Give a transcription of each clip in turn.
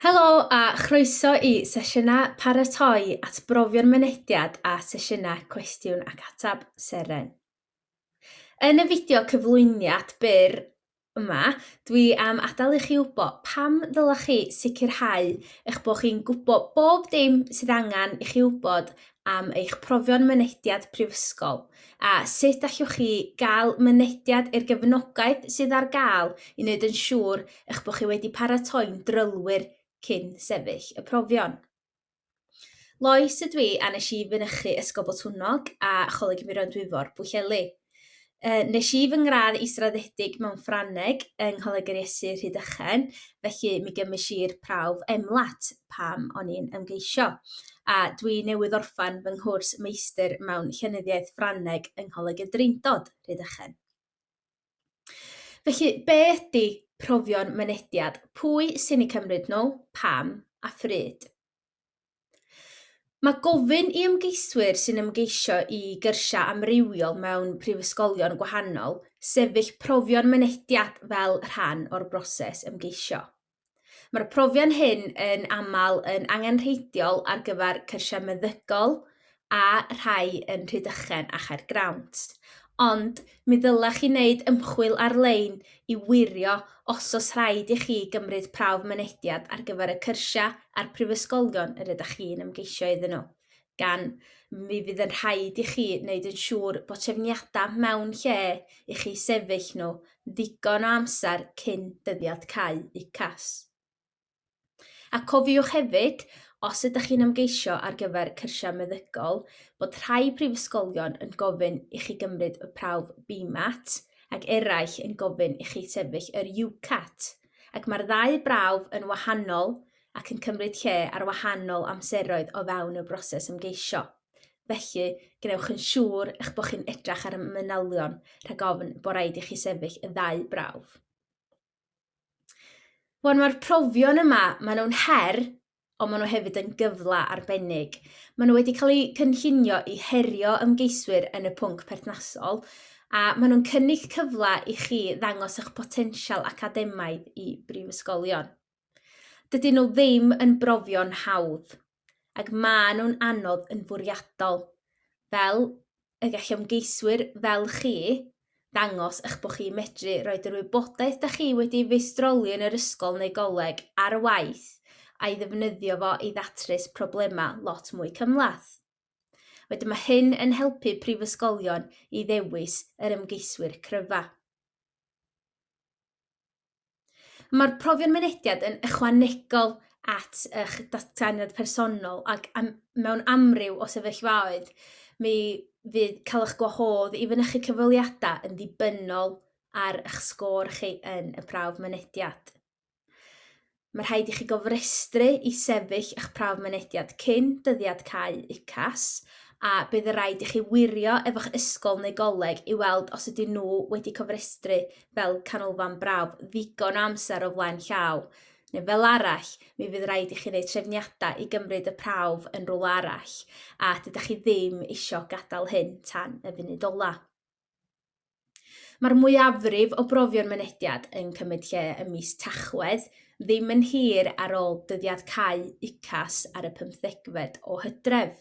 Helo a chroeso i sesiynau paratoi at brofion mynediad a sesiynau cwestiwn ac atab seren. Yn y fideo cyflwyniad byr yma, dwi am adael i chi wybod pam ddylech chi sicrhau eich bod chi'n gwybod bob dim sydd angen i chi wybod am eich profion mynediad prifysgol a sut allwch chi gael mynediad i'r gefnogaeth sydd ar gael i wneud yn siŵr eich bod chi wedi paratoi'n drylwyr cyn sefyll y profion. Lois ydw i a nes i fynychu Ysgol Botwnnog a Choleg Muron Dwyfor, Bwylleli. Uh, nes i fy ngradd israddedig mewn Ffrangeg yng Ngholeg yr Iesu Rhydychen, felly mi gymys i'r prawf emlat pam o'n i'n ymgeisio. A dwi newydd orffan fy nghwrs meistr mewn llenyddiaeth Ffrangeg yng Ngholeg y Drindod, Rhydychen. Felly, be ydy profion mynediad? Pwy sy'n ei cymryd nhw, pam a phryd? Mae gofyn i ymgeiswyr sy'n ymgeisio i gyrsiau amrywiol mewn prifysgolion gwahanol sefyll profion mynediad fel rhan o'r broses ymgeisio. Mae'r profion hyn yn aml yn angenrheidiol ar gyfer cyrsiau meddygol, a rhai yn Rhydychen a Chaergrawnt, ond mi ddylech chi wneud ymchwil ar-lein i wirio os oes rhaid i chi gymryd prawf mynediad ar gyfer y cyrsiau a'r prifysgolion yr ydych chi'n ymgeisio iddyn nhw, gan mi fydd yn rhaid i chi wneud yn siŵr bod trefniadau mewn lle i chi sefyll nhw ddigon o amser cyn dyddiad cau UCAS. A cofiwch hefyd, os ydych chi'n ymgeisio ar gyfer cyrsiau meddygol, bod rhai prifysgolion yn gofyn i chi gymryd y prawf BMAT ac eraill yn gofyn i chi sefyll yr UCAT, ac mae'r ddau brawf yn wahanol ac yn cymryd lle ar wahanol amseroedd o fewn y broses ymgeisio. Felly, gwnewch yn siŵr eich bod chi'n edrach ar y manylion rhag ofn bod rhaid i chi sefyll y ddau brawf. Wel, mae'r profion yma, maen nhw'n her, ond maen nhw hefyd yn gyfle arbennig. Maen nhw wedi cael eu cynllunio i herio ymgeiswyr yn y pwnc perthnasol, a maen nhw'n cynnig cyfle i chi ddangos eich potensial academaidd i brifysgolion. Dydyn nhw ddim yn brofion hawdd. ac mae nhw'n anodd yn fwriadol, fel y gall ymgeiswyr fel chi ddangos eich bod chi'n medru rhoi yr wybodaeth da chi wedi feistroli yn yr ysgol neu goleg ar waith a'i ddefnyddio fo i ddatrys problemau lot mwy cymhleth. Wedyn mae hyn yn helpu prifysgolion i ddewis yr ymgeiswyr cryfa. Mae'r profion mynediad yn ychwanegol at eich datganiad personol ac am, mewn amryw o sefyllfaoedd, mi fydd cael eich gwahodd i fynychu cyfweliadau yn ddibynnol ar eich sgôr chi yn y prawf mynediad. Mae rhaid i chi gofrestru i sefyll eich prawf mynediad cyn dyddiad cau UCAS a bydd y rhaid i chi wirio efo'ch ysgol neu goleg i weld os ydyn nhw wedi cofrestru fel canolfan brawf ddigon o amser o flaen llaw, neu fel arall, mi fydd rhaid i chi wneud trefniadau i gymryd y prawf yn rhywle arall, a dydych chi ddim eisiau gadael hyn tan y funud ola. Mae'r mwyafrif o brofion mynediad yn cymryd lle ym mis Tachwedd, ddim yn hir ar ôl dyddiad cau UCAS ar y 15fed o hydref.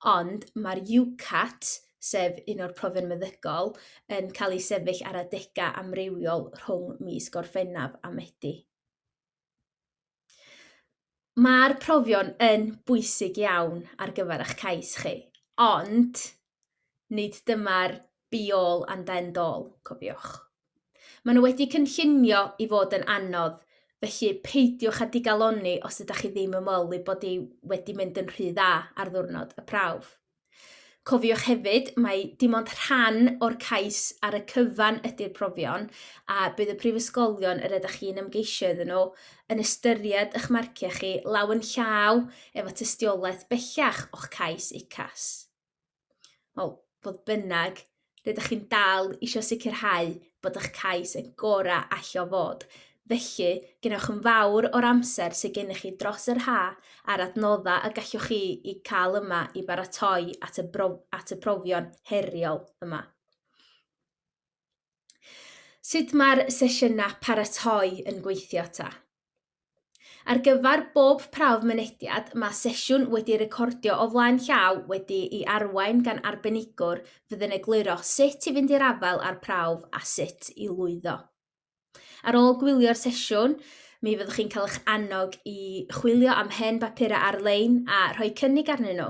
Ond mae'r UCAT, sef un o'r profion meddygol, yn cael ei sefyll ar adegau amrywiol rhwng mis Gorffennaf a Medi. Mae'r profion yn bwysig iawn ar gyfer eich cais chi, ond nid dyma'r Be all and end all, cofiwch. Maen nhw wedi cynllunio i fod yn anodd, felly peidiwch â digalonni os ydych chi ddim yn meddwl ei bod hi wedi mynd yn rhy dda ar ddwrnod y prawf. Cofiwch hefyd, mae dim ond rhan o'r cais ar y cyfan ydy'r profion a bydd y prifysgolion yr ydych chi'n ymgeisio iddyn nhw yn ystyried eich marciau chi law yn llaw efo tystiolaeth bellach o'ch cais UCAS. Wel, fodd bynnag, rydych chi'n dal eisiau sicrhau bod eich cais yn gorau allio fod. Felly, gennych yn fawr o'r amser sydd gennych chi dros yr ha a'r adnoddau y gallwch chi i cael yma i baratoi at y, brof, at y profion heriol yma. Sut mae'r sesiynau paratoi yn gweithio ta? Ar gyfer bob prawf mynediad, mae sesiwn wedi recordio o flaen llaw wedi'i arwain gan arbenigwr fydd yn egluro sut i fynd i'r afael â'r prawf a sut i lwyddo. Ar ôl gwylio'r sesiwn, mi fyddwch chi'n cael eich annog i chwilio am hen bapurau ar-lein a rhoi cynnig arnyn nhw.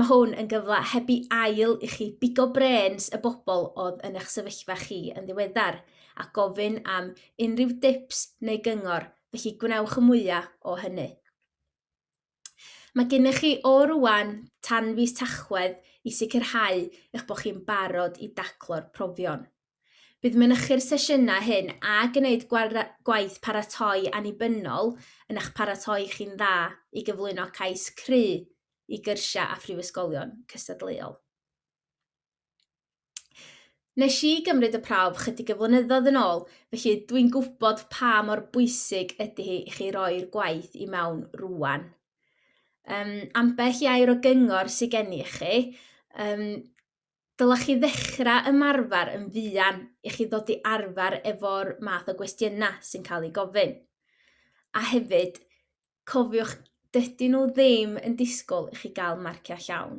Mae hwn yn gyfle heb i ail i chi bigo brens y bobl oedd yn eich sefyllfa chi yn ddiweddar a gofyn am unrhyw dips neu gyngor, felly gwnewch y mwyaf o hynny. Mae gennych chi o rwan tan fis Tachwedd i sicrhau eich bod chi'n barod i daclo'r profion. Bydd mynychu'r sesiynau hyn a gwneud gwaith paratoi annibynnol yn eich paratoi chi'n dda i gyflwyno cais cru i gyrsiau a phrifysgolion cystadleuol. Nes i gymryd y prawf chydig y flynyddoedd yn ôl, felly dwi'n gwybod pa mor bwysig ydy hi i chi roi'r gwaith i mewn rwan. Um, ambell i air o gyngor sydd gen i chi, um, Dylech chi ddechrau ymarfer yn fuan i chi ddod i arfer efo'r math o gwestiynau sy'n cael ei gofyn. A hefyd, cofiwch, dydyn nhw ddim yn disgwyl i chi gael marciau llawn,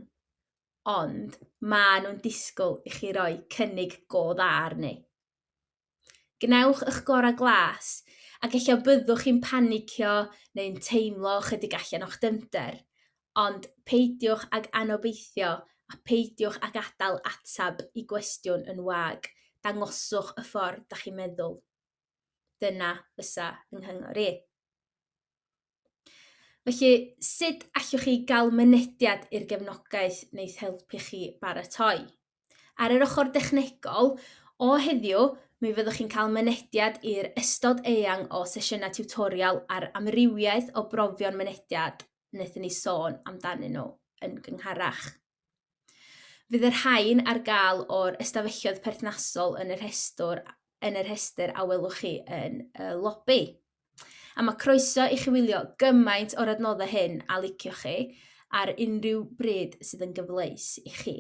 ond maen nhw'n disgwyl i chi roi cynnig go dda arni. Gwnewch eich gorau glas, ac ella byddwch chi'n panicio neu'n teimlo chydig allan o'ch dyfnder. Ond peidiwch ag anobeithio a pheidiwch ag adael ateb i gwestiwn yn wag, dangoswch y ffordd da chi'n meddwl. Dyna fysa fy nghyngor i. Felly, sut allwch chi gael mynediad i'r gefnogaeth wneud helpu chi baratoi? Ar yr ochr dechnegol, o heddiw, mi fyddwch chi'n cael mynediad i'r ystod eang o sesiynau tiwtorial a'r amrywiaeth o brofion mynediad wnaethon ni sôn amdanyn nhw yn gyngharach. Fydd y rhain ar gael o'r ystafelloedd perthnasol yn y rhestr, yn y rhestr a welwch chi yn y lobby. A mae croeso i chi wylio gymaint o'r adnoddau hyn a licio chi ar unrhyw bryd sydd yn gyfleus i chi.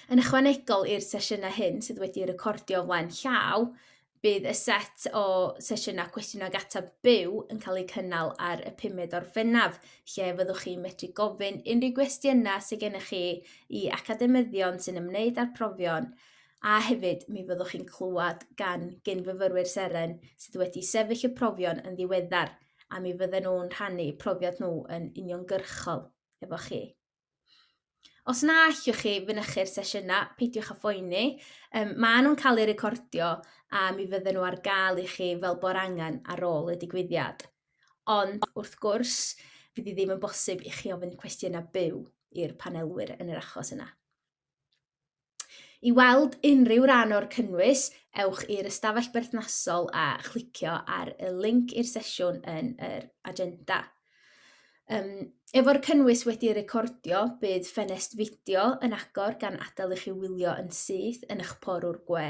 Yn ychwanegol i'r sesiynau hyn sydd wedi recordio flaen llaw, Bydd y set o sesiynau cwestiwn ag ateb byw yn cael eu cynnal ar y pumed o'r fennaf, lle fyddwch chi'n medru gofyn unrhyw gwestiynau sydd gennych chi i academyddion sy'n ymwneud â'r profion, a hefyd mi fyddwch chi'n clywed gan gyn-fyfyrwyr Seren sydd wedi sefyll y profion yn ddiweddar, a mi fydden nhw'n rhannu profiad nhw yn uniongyrchol efo chi. Os na allwch chi fynychu'r sesiynau, peidiwch â phoeni. Um, maen nhw'n cael eu recordio a mi fydden nhw ar gael i chi fel bo'r angen ar ôl y digwyddiad. Ond, wrth gwrs, fydd ddim yn bosib i chi ofyn cwestiynau byw i'r panelwyr yn yr achos yna. I weld unrhyw ran o'r cynnwys, ewch i'r ystafell berthnasol a chlicio ar y link i'r sesiwn yn yr agenda. Um, efo'r cynnwys wedi recordio, bydd ffenest fideo yn agor gan adael i chi wylio yn syth yn eich porwr gwe.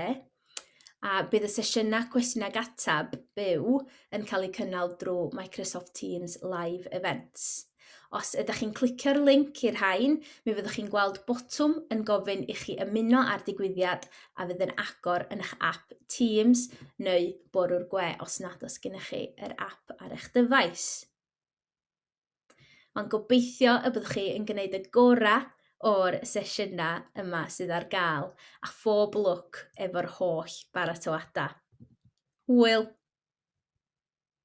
A bydd y sesiynau cwestiwn ag atab byw yn cael eu cynnal drwy Microsoft Teams Live Events. Os ydych chi'n clicio'r link i'r rhain, mi fyddwch chi'n gweld botwm yn gofyn i chi ymuno â'r digwyddiad a fydd yn agor yn eich app Teams neu bwrw'r gwe os nad oes gennych chi yr app ar eich dyfais. Mae'n gobeithio y byddwch chi yn gwneud y gorau o'r sesiynau yma sydd ar gael a phob lwc efo'r holl baratoadau. Hwyl!